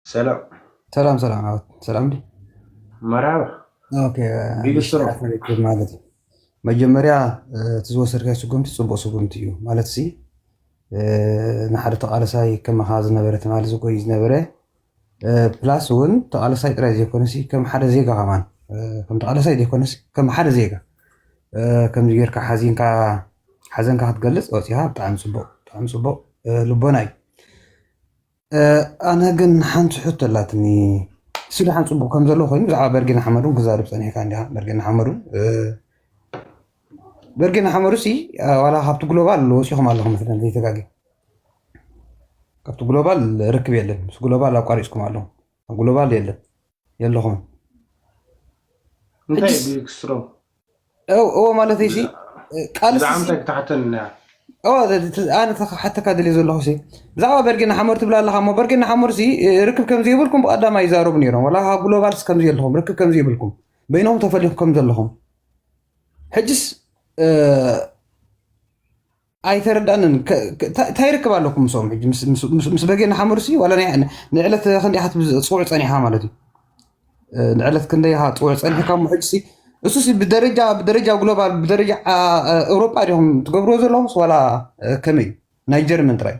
ሰላም ሰላም ሰላም ዓወት ሰላም ዲ መርሃባ ኦኬ ቢልስትሮ ሽራት ንርክብ ማለት እዩ መጀመርያ እ፣ እቲ ዝወሰድካዮ ስጉምቲ ፅቡቅ ስጉምቲ እዩ ማለት ሲ እ፣ ንሓደ ተቃለሳይ ከማኻ ዝነበረ ትማሊ ዝጎይ ዝነበረ እ፣ ፕላስ እውን ተቃለሳይ ጥራይ ዘይኮነሲ ከም ሓደ ዜጋ ከማን እ፣ ከም ተቃለሳይ ዘይኮነሲ ከም ሓደ ዜጋ እ፣ ከምዚ ጌርካ ሓዚንካ ሓዘንካ ክትገልፅ ወፂኻ ብጣዕሚ ፅቡቅ ብጣዕሚ ፅቡቅ እ፣ ልቦና እዩ ኣነ ግን ሓንቲ ሕቶ ኣላትኒ ስለ ሓን ፅቡቅ ከም ዘሎ ኮይኑ ብዛዕባ በርጌና ሓመዱ ክዛርብ ፀኒሕካ እንዲኻ በርጌና ሓመዱ በርጌና ሓመዱ ሲ ዋላ ካብቲ ግሎባል ወፂኹም ኣለኹም መስለን ዘይተጋገ ካብቲ ግሎባል ርክብ የለን ምስ ግሎባል ኣቋሪፅኩም ኣለኹም ኣብ ግሎባል የለን የለኹምን እንታይ እዩ ክስትሮ እዎ ማለት ሲ ቃልስኣነ ክሓተካ ደልየ ዘለኹ ብዛዕባ በርጌ ናሓመር ትብላ ኣለካ ሞ በርጌ ናሓመር ርክብ ከምዘይብልኩም ብቀዳማ ይዛረቡ ነይሮም ላ ካብ ግሎባልስ ከምዘለኹም ርክብ ከምዘይብልኩም በይኖም ተፈሊኹ ከምዘለኹም ሕጅስ ኣይተረዳንን እንታይ ይርክብ ኣለኩም ምስኦም ሕጂ ምስ በጌ ንሓመዱሲ ዋላ ንዕለት ክንደይ ኢኻ ፅውዕ ፀኒሕካ ማለት እዩ ንዕለት ክንደይ ኢኻ ፅውዕ ፀኒሕካ እሞ ሕጂሲ እሱሲ ብደረጃ ብደረጃ ግሎባል ብደረጃ ኤውሮጳ ዲኹም ትገብርዎ ዘለኹምስ ዋላ ከመይ እዩ ናይ ጀርመን ጥራይ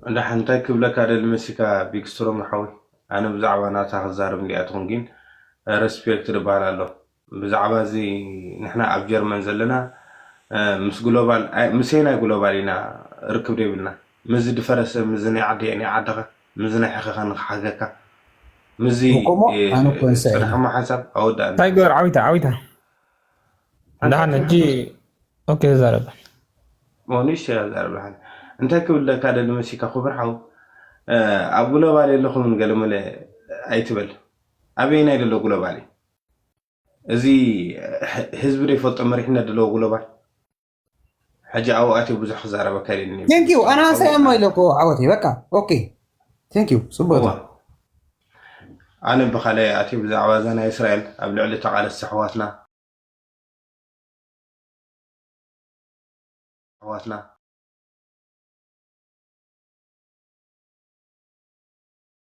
እንዳ ሓንታይ ክብለካ ደሊ መሲካ ቢክስትሮም ሓወይ ኣነ ብዛዕባ ናታ ክዛረብ እንዲኣ ትኹን ግን ረስፔክት ድበሃል ኣሎ ብዛዕባ እዚ ንሕና ኣብ ጀርመን ዘለና ምስ ግሎባል ምስ የናይ ግሎባል ኢና ርክብ ደይብልና ምስዚ ድፈረሰ ምስዚ ናይ ዓደይ ናይ ዓድኻ ምስዚ ናይ ሕኸኻ ንኽሓገካ ምስዚ ጽንሕማ ሓንሳብ ኣወዳእና እንታይ ገበር ዓዊታ ዓዊታ ደሓን ሕጂ ኦኬ ዛረብ ንእሽተይ እያ ዛረብልሓን እንታይ ክብል ለካ ደሊ መሲካ ክቡር ሓው ኣብ ግሎባል የለኹምን ገለመለ ኣይትበል ኣበየናይ ደሎ ግሎባል እዩ እዚ ህዝቢ ዶ ይፈልጦ መሪሕነት ድለዎ ጉሎባል ሕጂ ኣብኡ ኣትዮ ብዙሕ ክዛረበ ከሪኒ ቴንክ ዩ ኣና ሰላም ኢለኮ ዓወተይ በቃ ኦኬ ቴንክ ዩ ፅቡቅ ኣነ ብካልኣይ ኣትዮ ብዛዕባ እዛ ናይ እስራኤል ኣብ ልዕሊ ተቃለስቲ ኣሕዋትና ኣሕዋትና